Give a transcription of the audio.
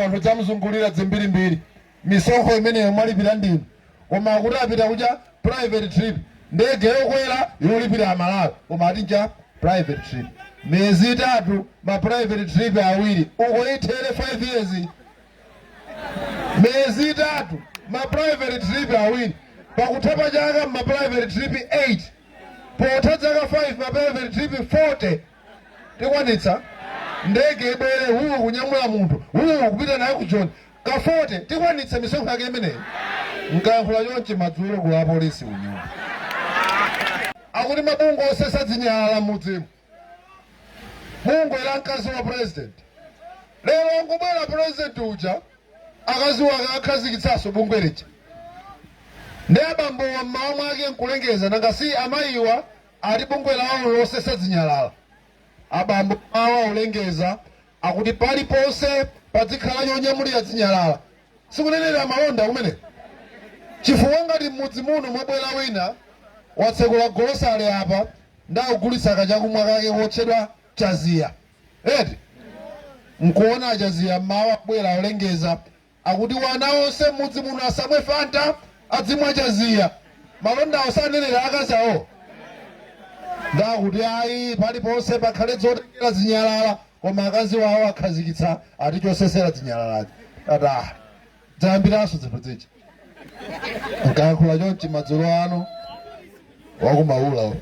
anthu zamzungulira zimbirimbiri misonkho imeneyo mwalipira ndinu koma akuti apita ku ja private trip ndege yokwera yolipira amalawi koma ati nja private trip miyezi itatu ma private trip awiri uko ithere 5 years miyezi itatu ma private trip awiri pakutha pa chaka ma private trip 8 potha zaka 5 ma private trip 40 tikwanitsa ndege ibwere huu kunyamula munthu huu kupita naye ku joni ka 40 tikwanitsa misonkho yake imeneyi nkayankhula chonchi madzulo ku apolisi kunyumba akuti mabungwe osesa zinyalala mudzimu bungwe la mkazi wa president lero angobwera president uja akazi wake akhazikitsanso bungwe lija ndi abambo awa mmawa mwake nkulengeza nanga si amayiwa ati bungwe lawo losesa zinyalala abambo mawa olengeza akuti paliponse padzikhala chonyamulira zinyalala sikunenera malonda kumeneko chifukwa ngati m'mudzi muno mwabwera wina watsekula golosale apa ndakugulitsa kachakumwa kake kotchedwa chaziya eti mkuona achaziya mawa abwera olengeza Akuti wana onse mmudzi muno asamwe fanta adzimwa chaziya malondawo sanenera akazi awo? Nde akuti ayi paliponse pakhale dzotengera dzinyalala koma akazi awo akhazikitsa ati chosesera dzinyalalazi tati ah dzayambiranso dzinthu dzija nkayankhula chonchi madzulo ano wakumaula uyu.